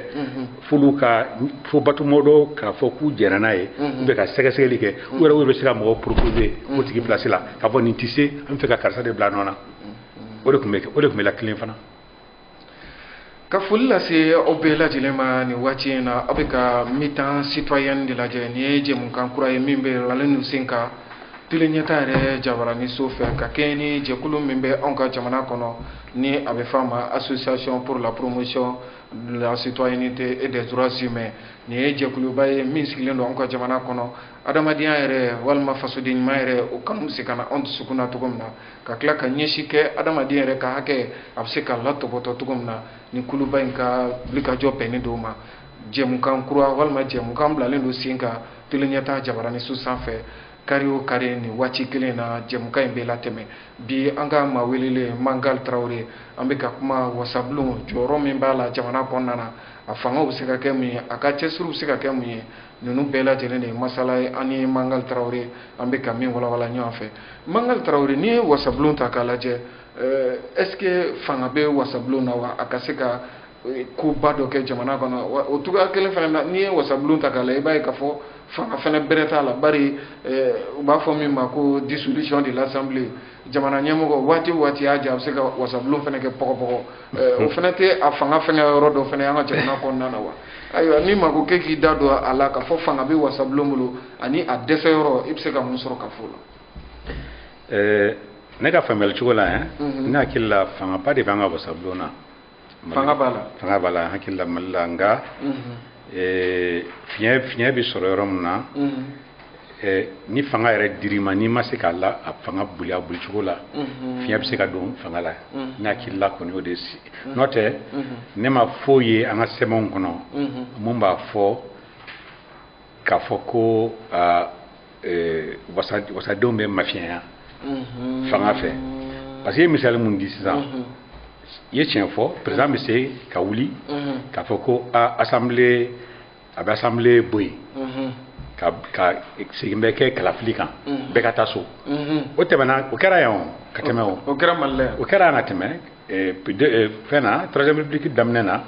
f'olu ka fo batumɔdɔ k'a fɔ k'u jɛnna n'a ye u bɛ ka sɛgɛsɛgɛli kɛ u yɛrɛ bɛ se ka mɔgɔ proposer o tigi place la k'a fɔ nin tɛ se an bɛ fɛ ka karisa de bila nɔ na o de tun bɛ kɛ o de tun bɛ latilen fana ka foli lase aw bɛɛ lajɛlen ma nin waati in na aw bɛ ka mi-temps citoyen de lajɛ nin ye jɛmukan kura ye min bilalen don sen kan teleɲɛta yɛrɛ jabarani so fɛ ka kɛɲɛ ni jɛkulu min bɛ anw ka jamana kɔnɔ ni a bɛ f'a ma association pour la promotion de la citoyenneté et des droits humains nin ye jɛkuluba ye min sigilen don anw ka jamana kɔnɔ adamadenya yɛrɛ walima fasoden ɲuman yɛrɛ o kanu bɛ se ka na anw dusukun na cogo min na ka tila ka ɲɛsin kɛ adamaden yɛrɛ ka hakɛ a bɛ se ka latɔpɔtɔ cogo min na nin kuluba in ka wulikajɔ bɛnnen don o ma jɛmukan kura walima jɛmukan bilalen don sen kan teleɲɛta jabarani so sanfɛ kari o kari nin waati kelen na jɛmukan in bɛ latɛmɛ bi an ka maa welelen mangal tarawele an bɛ ka kuma wasabulon jɔyɔrɔ min b'a la jamana kɔnɔna na a fanga bɛ se ka kɛ mun ye a ka cɛsiriw bɛ se ka kɛ mun ye ninnu bɛɛ lajɛlen de ye masala ye an ni mangal tarawele an bɛ ka min walawala ɲɔgɔn fɛ mangal tarawele n'i ye wasabulon ta k'a lajɛ euh, est ce que fanga bɛ wasabulon na wa a ka se ka euh, koba dɔ kɛ jamana kɔnɔ o cogoya kelen fana na n'i ye wasabulon ta k'a lajɛ i b'a ye k'a fɔ fanga fana bɛrɛ t'a la bari euh, u b'a fɔ min ma ko dissolution de l'assemblée jamana ɲɛmɔgɔ waati waati y'a diya a bɛ se ka wasabulon fana kɛ pɔgɔpɔgɔ eh, o fana tɛ a fanga fɛngɛ yɔrɔ dɔ fana an ka jamana kɔnɔna na wa ayiwa ni maa ko k'e k'i da don a la k'a fɔ fanga bɛ wasabulon bolo ani a dɛsɛ yɔrɔ i bɛ se ka mun sɔrɔ ka fɔ o la. Eh, ne ka faamuyali cogo la yan eh, mhm. ne hakili la fangaba de b'an ka wasabulon na. fanga b'a la fanga b'a la hakili la mali la nka fiɲɛ fiɲɛ bɛ sɔrɔ yɔrɔ min na ni fanga yɛrɛ dir'i ma n'i ma se k'a la a fanga boli a boli cogo la fiɲɛ bɛ se ka don fanga la ne hakili la kɔni o de si n'o tɛ ne ma foyi ye an ka sɛbɛnw kɔnɔ mun b'a fɔ k'a fɔ ko eh, wasadenw bɛ mafiɲɛya mhm. fanga fɛ parce que i ye misali mun di sisan mhm. i ye tiɲɛ fɔ président bɛ se ka wuli mhm. k'a fɔ ko a assemblée a bɛ assemblée bɔ yen ka ka segin bɛ kɛ kalafili kan bɛɛ ka taa so o tɛmɛna o kɛra yan o ka tɛmɛ o o kɛra mali la yan o kɛra yan ka tɛmɛ fɛn na troisième république daminɛ na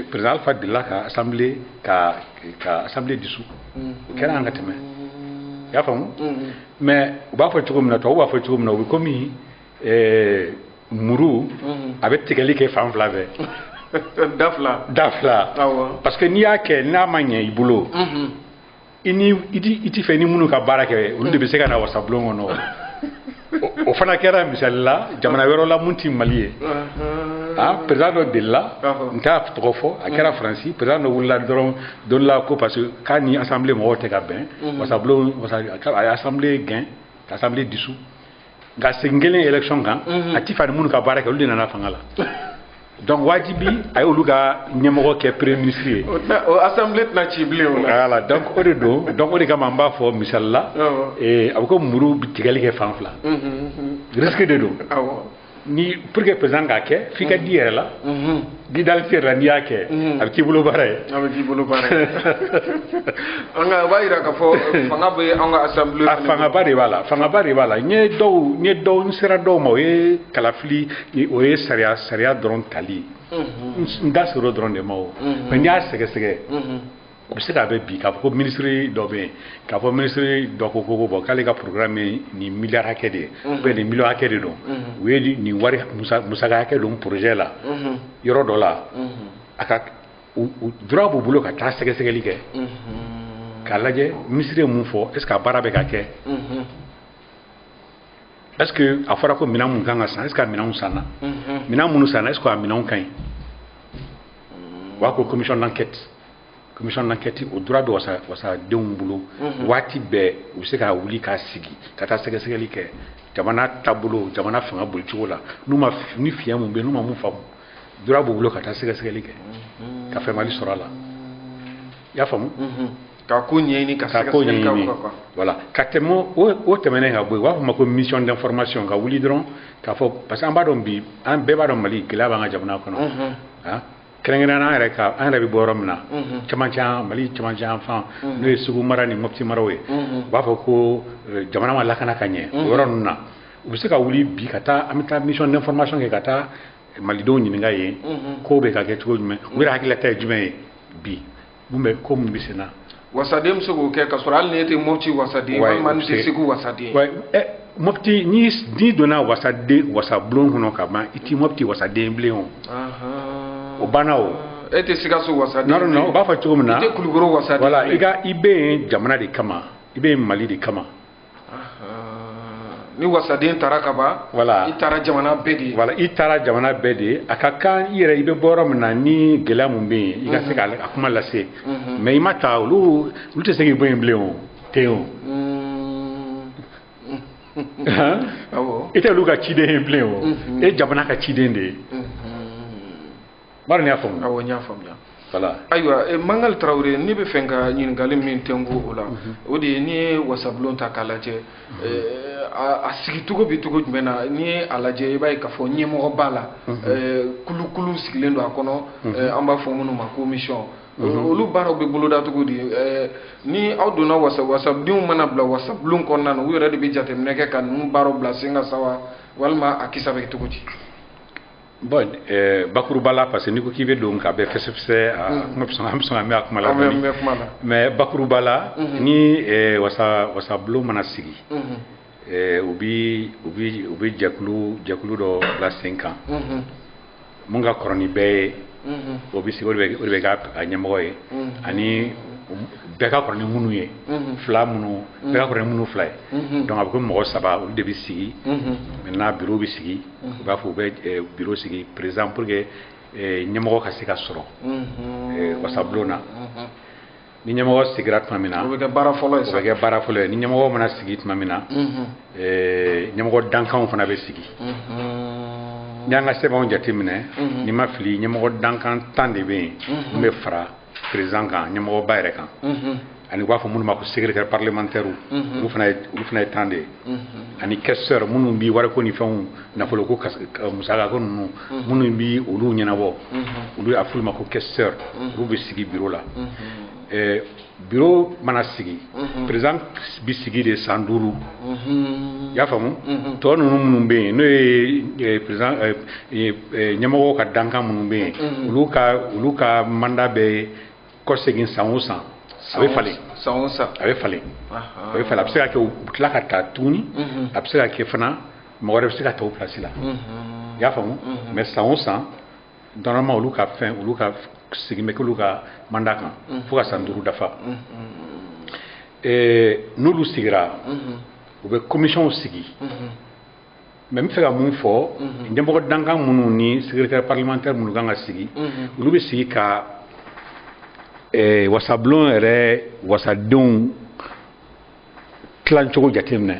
président Alpha delila ka assemblée ka ka assemblée dissous o kɛra yan ka tɛmɛ i y'a faamu mais u b'a fɔ cogo min na tubabu b'a fɔ cogo min na o bɛ komi muru a bɛ tigɛli kɛ fan fila fɛ da fila da fila parce que n'i y'a kɛ n'a ma ɲɛ i bolo i ni i ti fɛ ni minnu ka baara kɛ olu de bɛ se ka na wasabulon kɔnɔ o fana kɛra misali la jamana wɛrɛ la mun ti mali ye a président dɔ delila n t'a tɔgɔ fɔ a kɛra faransi président dɔ wulila dɔrɔn don la ko parce que k'a ni assemblée mɔgɔw tɛ ka bɛn wasabulon a ye assemblée gɛn ka assemblée dissous nka segin kɛlen élection kan mhm. a ti fɛ a ni minnu ka baara kɛ olu de nana fanga la donc wajibi a y'olu ka ɲɛmɔgɔ kɛ premier ministre ye o assemblée tɛna ci bilen o la voilà donc o de don donc o de kama an b'a fɔ misali la a bɛ ko muru bɛ tigɛli kɛ fan fila mhm, mhm. risque de don ni pour que président k'a kɛ f'i ka d'i yɛrɛ la n'i dalen t'i yɛrɛ la n'i y'a kɛ a bɛ k'i bolo baara ye a bɛ k'i bolo baara ye an ka o b'a jira k'a fɔ fanga bɛ an ka assemblée a fangaba de b'a la fangaba de b'a la n ye dɔw n ye dɔw n sera dɔw ma o ye kalafili o ye sariya sariya dɔrɔn tali n da sera o dɔrɔn de ma o mais n'i y'a sɛgɛsɛgɛ u bɛ se k'a mɛn bi k'a fɔ ko minisiri dɔ bɛ yen k'a fɔ minisiri dɔ ko ko bon k'ale ka programme ye nin miliyari hakɛ de ye ou bien nin miliyɔn hakɛ de don u ye nin wari musaka hakɛ don projet la yɔrɔ dɔ la a ka droit b'u bolo ka taa sɛgɛsɛgɛli kɛ k'a lajɛ minisiri ye mun fɔ est ce que a baara bɛ ka kɛ est ce que a fɔra ko minɛn mun kan ka san est ce que a minɛnw sanna minɛn minnu sanna est ce que a minɛnw ka ɲi u b'a ko commission d'enquête commission d'enquête o droit bɛ wasa wasadenw bolo waati bɛɛ u bɛ se ka wuli k'a sigi ka taa sɛgɛsɛgɛli kɛ jamana taabolo jamana fanga bolicogo la n'u ma ni fiɲɛ mun bɛ n'u ma mun faamu droit b'u bolo ka taa sɛgɛsɛgɛli kɛ ka faamuyali sɔrɔ a la i y'a faamu ka ko ɲɛɲini ka ko ɲɛɲini voilà ka tɛmɛ o tɛmɛnen ka bɔ yen u b'a fɔ o ma ko mission d'information ka wuli dɔrɔn k'a fɔ parce que an b'a dɔn bi an bɛɛ b'a dɔn mali gɛlɛya b'an ka jamana kɔnɔ kɛrɛnkɛrɛnnenya la an yɛrɛ ka an yɛrɛ bɛ bɔ yɔrɔ min na camancɛ mali camancɛ yanfan n'o ye segu mara ni mɔti maraw ye u b'a fɔ ko eh, jamana ma lakana ka ɲɛ o yɔrɔ ninnu na u bɛ se ka wuli bi ka taa an bɛ taa mission d'information kɛ ka taa malidenw ɲininka yen kow bɛ ka kɛ cogo jumɛn u yɛrɛ hakilila ta ye jumɛn ye bi mun bɛ ko mun bɛ senna wasaden bɛ se k'o kɛ ka sɔrɔ hali n'e tɛ mɔti wasaden walima n'i tɛ segu wasaden eh, mɔti ni n'i donna wasaden wasabulon kɔnɔ ka ban i ti mɔti wasaden bilen o o banna o e tɛ sikaso wasaden non non o b'a fɔ cogo min na i tɛ kulukoro wasaden voilà i ka i bɛ yen jamana de kama i bɛ yen mali de kama ni wasaden taara ka ban voilà i taara jamana bɛɛ de voilà i taara jamana bɛɛ de a ka kan i yɛrɛ i bɛ bɔ yɔrɔ min na ni gɛlɛya min bɛ yen i ka se ka a kuma lase mais i ma taa olu olu tɛ se k'i bɔ yen bilen o ten o i tɛ olu ka ciden ye bilen o e jamana ka ciden de ye bari i y'a faamuya awɔ n y'a faamuya voilà ayiwa eh, mangal tarawele ne bɛ fɛ ka ɲininkali min tɛnku o la mhm. o de ye n'i ye wasabulon ta k'a lajɛ mhm. eh, a sigicogo bɛ cogo jumɛn na n'i ye a lajɛ i b'a ye k'a fɔ ɲɛmɔgɔ b'a la mhm. eh, kulukulu sigilen don a kɔnɔ an b'a fɔ minnu ma commission olu baaraw bɛ boloda cogo di ni aw donna wasa wasadenw mana bila wasabulon kɔnɔna na u yɛrɛ de bɛ jateminɛ kɛ ka ninnu baaraw bila sen kan sa wa walima a kisa bɛ cogo di Bon ɛɛ bakuruba la parce que n'i ko k'i bɛ don ka bɛɛ fɛsɛfɛsɛ aa un an bɛ sɔn an bɛ sɔn ka mɛn a kuma la dɔɔnin, an bɛ mɛn kuma la, mais bakuruba la, unhun, ni ɛɛ wasa wasabulon mana sigi, unhun, ɛɛ u bɛ u bɛ u bɛ jɛkulu jɛkulu dɔ bila sen kan, unhun, min ka kɔrɔ ni bɛɛ ye, unhun, o bɛ sigi o de bɛ o de bɛ k'a a ɲɛmɔgɔ ye, unhun, ani bɛɛ ka kɔrɔ ni minnu ye, unhun, fila minnu bɛɛ ka kɔrɔ ni minnu fila ye, unhun, donc a bɛ komi mɔgɔ saba olu de bɛ sigi, unhun, maintenant bureau bɛ sigi u b'a fɔ u bɛ bureau sigi par exemple pour que ɲɛmɔgɔ ka se ka sɔrɔ wasabulon na ni ɲɛmɔgɔ sigira tuma min na o bɛ kɛ baara fɔlɔ ye o bɛ kɛ baara fɔlɔ ye ni ɲɛmɔgɔ mana sigi tuma min na ɲɛmɔgɔ dankanw fana bɛ sigi n'i y'an ka sɛbɛnw jateminɛ ni n ma fili ɲɛmɔgɔ dankan tan de bɛ yen min bɛ fara président kan ɲɛmɔgɔba yɛrɛ kan ani u b'a fɔ minnu ma ko secrétaire parlementaire olu fana ye olu fana ye tan de ye ani questeur minnu bi wariko ni fɛnw nafolo ko musaka ko ninnu minnu bi olu ɲɛnabɔ olu y'a f'olu ma ko questeur olu bɛ sigi bureau la bureau mana sigi président bi sigi de san duuru i y'a faamu tɔ ninnu minnu bɛ yen n'o ye président ɲɛmɔgɔw ka dankan minnu bɛ yen olu ka olu ka mandat bɛ kɔsegin san o san a bɛ falen san o san a bɛ falen a bɛ falen a bɛ se ka kɛ u tila ka taa tuguni a bɛ se ka kɛ fana mɔgɔ wɛrɛ bɛ se ka ta o place la i y'a faamu mais san o san normalement olu ka fɛn olu ka segin bɛ k'olu ka mandat kan fo ka san duuru dafa n'olu sigira u bɛ commissionw sigi mais n bɛ fɛ ka mun fɔ ɲɛmɔgɔ dankan minnu ni secrétaire parlementaire minnu kan ka sigi olu bɛ sigi ka eh, wasabulon yɛrɛ wasadenw tilancogo jateminɛ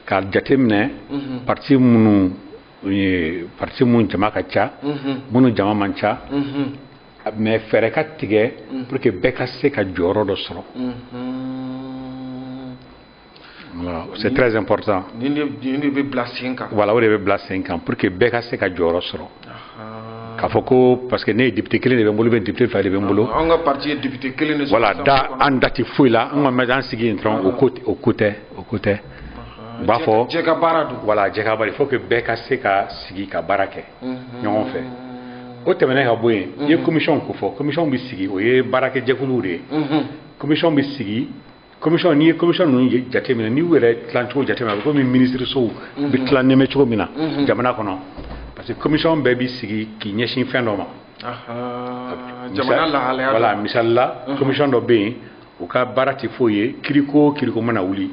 k'a jateminɛ parti minnu ye parti minnu jama ka ca minnu jama man ca mais fɛɛrɛ ka tigɛ pour que bɛɛ ka se ka jɔyɔrɔ dɔ sɔrɔ c'est très important nin de bɛ bila sen kan voilà o de bɛ bila sen kan pour que bɛɛ ka se ka jɔyɔrɔ sɔrɔ k'a fɔ ko parce que ne ye député kelen de bɛ n bolo bɛ député fila de bɛ n bolo an ka parti ye député kelen de sɔrɔ voilà da an da tɛ foyi la an kɔni bɛ an sigi yen dɔrɔn o ko o ko tɛ o ko tɛ u b'a fɔ jɛ ka baara don voilà jɛ ka baara il faut que bɛɛ ka se ka sigi ka baara kɛ ɲɔgɔn fɛ o tɛmɛnen ka bɔ yen i ye commission ko fɔ commission bɛ sigi o ye baarakɛjɛkuluw de ye commission bɛ sigi commission n'i ye commission ninnu jateminɛ n'i y'u yɛrɛ tilancogo jateminɛ a bɛ komi minisirisow mhm. bɛ tilan nɛmɛ cogo min na mhm. jamana kɔnɔ parce que commission bɛɛ bɛ sigi k'i ɲɛsin fɛn dɔ ma jamana lahalaya voilà misali la mhm. commission dɔ bɛ yen u ka baara tɛ foyi ye kiriko o kiriko mana wuli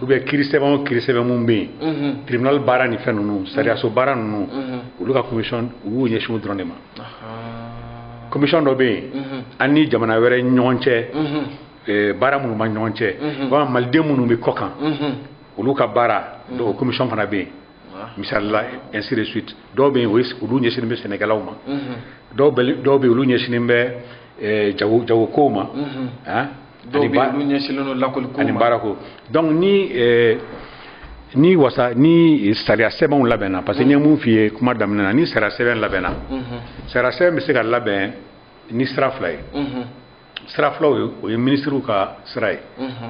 ou bien kiri sɛbɛn o kiri sɛbɛn mun bɛ yen tribunal baara ni fɛn ninnu sariyaso baara ninnu olu ka commission u y'u ɲɛsin o dɔrɔn de ma commission dɔ bɛ yen an ni jamana wɛrɛ ɲɔgɔn cɛ eh, baara minnu ma ɲɔgɔn cɛ walima maliden minnu bɛ kɔ kan olu ka baara o commission fana bɛ yen misali la ainsi de suite dɔw bɛ yen olu ɲɛsinnen bɛ sɛnɛkɛlaw ma dɔw bɛ yen olu ɲɛsinnen bɛ eh, jago jagokow ma ah, ani ba- ani baarako donc ni eh, ni wasa ni sariya sɛbɛnw labɛnna parce que n ye mun f'i ye kuma daminɛ na ni sariya sɛbɛn labɛnna sariya sɛbɛn bɛ se ka labɛn ni sira fila ye sira fɔlɔ ye o ye minisiriw ka sira ye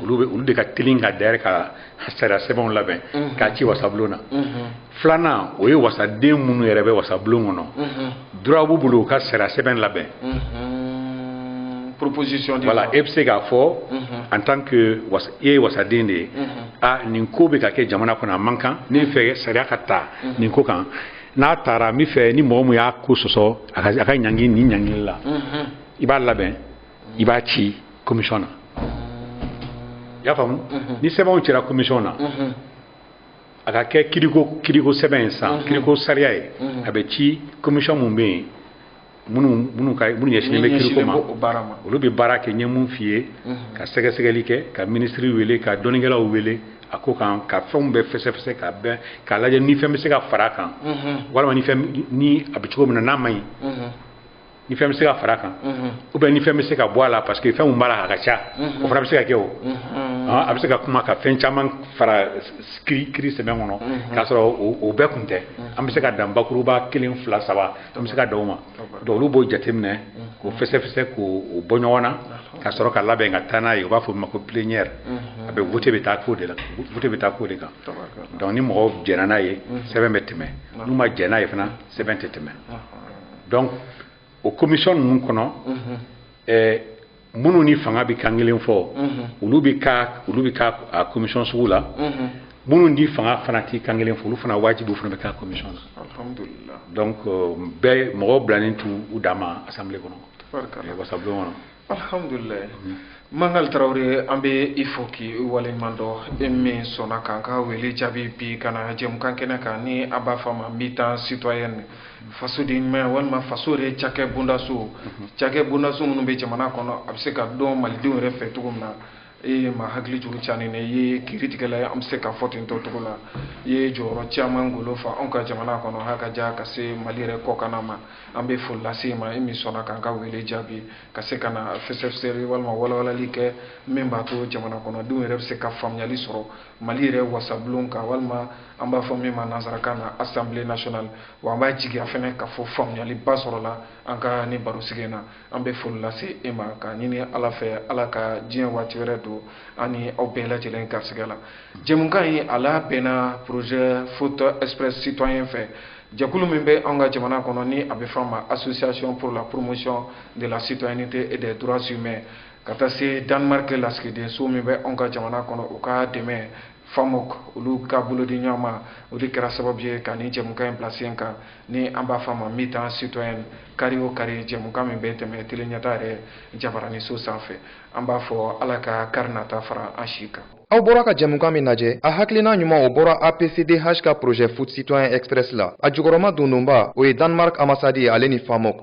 olu bɛ olu de ka teli ka d'ailleurs ka sariya sɛbɛnw labɛn k'a ci wasabulon na filanan o ye wasaden minnu yɛrɛ bɛ wasabulon kɔnɔ droit b'u bolo u ka sariya sɛbɛn labɛn proposition de voilà e bɛ se k'a fɔ en tant que i ye wasaden de ye a nin ko bɛ ka kɛ jamana kɔnɔ a man kan ne bɛ fɛ sariya ka ta nin ko kan n'a taara n bɛ fɛ ni mɔgɔ min y'a ko sɔsɔ a ka ɲangi nin ɲangili la i b'a labɛn i b'a ci commission na i y'a faamu ni sɛbɛnw cira commission na a ka kɛ kiriko kiriko sɛbɛn ye san kiriko sariya ye a bɛ ci commission mun bɛ yen minnu minnu ka minnu ɲɛsinnen bɛ kiriko ma olu bɛ baara kɛ n ye mun f'i ye ka sɛgɛsɛgɛli kɛ ka minisiri wele ka dɔnnikɛlaw wele a ko kan ka fɛnw bɛɛ fɛsɛfɛsɛ ka bɛn k'a lajɛ ni fɛn bɛ se ka fara a kan walima ni fɛn ni a bɛ cogo min na n'a man ɲi ni fɛn bɛ se ka fara kan ou bien ni fɛn bɛ se ka bɔ a la parce que fɛn min b'a la a ka ca o fana bɛ se ka kɛ o a bɛ se ka kuma ka fɛn caman fara kiri sɛbɛn kɔnɔ k'a sɔrɔ o bɛɛ kun tɛ an bɛ se ka dan bakuruba kelen fila saba an bɛ se ka dan o ma donc olu b'o jateminɛ k'o fɛsɛfɛsɛ k'o bɔ ɲɔgɔn na ka sɔrɔ ka labɛn ka taa n'a ye u b'a fɔ o ma ko plénière a bɛ vote bɛ taa k'o de la vote bɛ taa k'o de kan donc ni mɔgɔw jɛnna n'a ye sɛbɛn bɛ tɛmɛ n'u ma jɛn n'a ye fana sɛbɛn tɛ tɛmɛ donc o commission ninnu kɔnɔ ɛɛ minnu ni fanga bɛ kan kelen fɔ olu bɛ ka olu bɛ ka a commission sugu la minnu ni fanga fana tɛ kan kelen fɔ olu fana wajibi u fana bɛ k'a commission na alhamdulilayi donc bɛɛ mɔgɔw bilalen t'u dan ma assemblée kɔnɔ wasabulon kɔnɔ alhamdulilayi mangal tarawele an bɛ i fo k'i waleɲuman dɔn e min sɔnna k'an ka wele jaabi bi ka na jɛmukan kɛnɛ kan ni an b'a fɔ a ma mi-temps citoyenne fasoden ɲumanya walima faso yɛrɛ cakɛ bondaso cakɛ bondaso minnu bɛ jamana kɔnɔ a bɛ se ka dɔn malidenw yɛrɛ fɛ cogo min na e ye ma hakili jigin caani ne ye kiri tigɛla ye an bɛ se ka fɔ ten tɔ cogo la i ye jɔyɔrɔ caman golo fa anw ka jamana kɔnɔ ha ka ja ka se mali yɛrɛ kɔkanna ma an bɛ foli lase i ma i min sɔnna k'an ka wele jaabi ka se ka na fɛsɛfɛsɛli walima walawalali kɛ min b'a to jamana kɔnɔdenw yɛrɛ bɛ se ka faamuyali sɔrɔ mali yɛrɛ wasabulon kan walima an b'a fɔ min ma nansarakan na assemblée nationale wa an b'a jigiya fana ka fɔ faamuyaliba sɔrɔla an ka ni barosigi in na an bɛ foli lase e ma k'a ɲini ala fɛ ala ka diɲɛ waati wɛrɛ don an ni aw bɛɛ lajɛlen garisɛgɛ la jɛmukan in a labɛnna projet foot express citoyen fɛ jɛkulu min bɛ anw ka jamana kɔnɔ ni a bɛ fɔ a ma association pour la promotion de la citoyenneté et des droits humains ka taa se danemark lasigidenso min bɛ anw ka jamana kɔnɔ u ka dɛmɛ famok olu ka bolodi ɲɔgɔn ma o de kɛra sababu ye ka ni jɛmukan in bila sen kan ni an b'a fɔ a ma mi-temps citoyen kari o kari jɛmukan min bɛ tɛmɛ tele ɲɛta yɛrɛ jabaraniso sanfɛ an b'a fɔ ala ka kari nata fara an si kan aw bɔra ka jɛmukan min lajɛ a hakilina ɲuman o bɔra apcdh ka projet foot citoyen express la a jukɔrɔma dondonba o ye danemark ambassade ale ni famok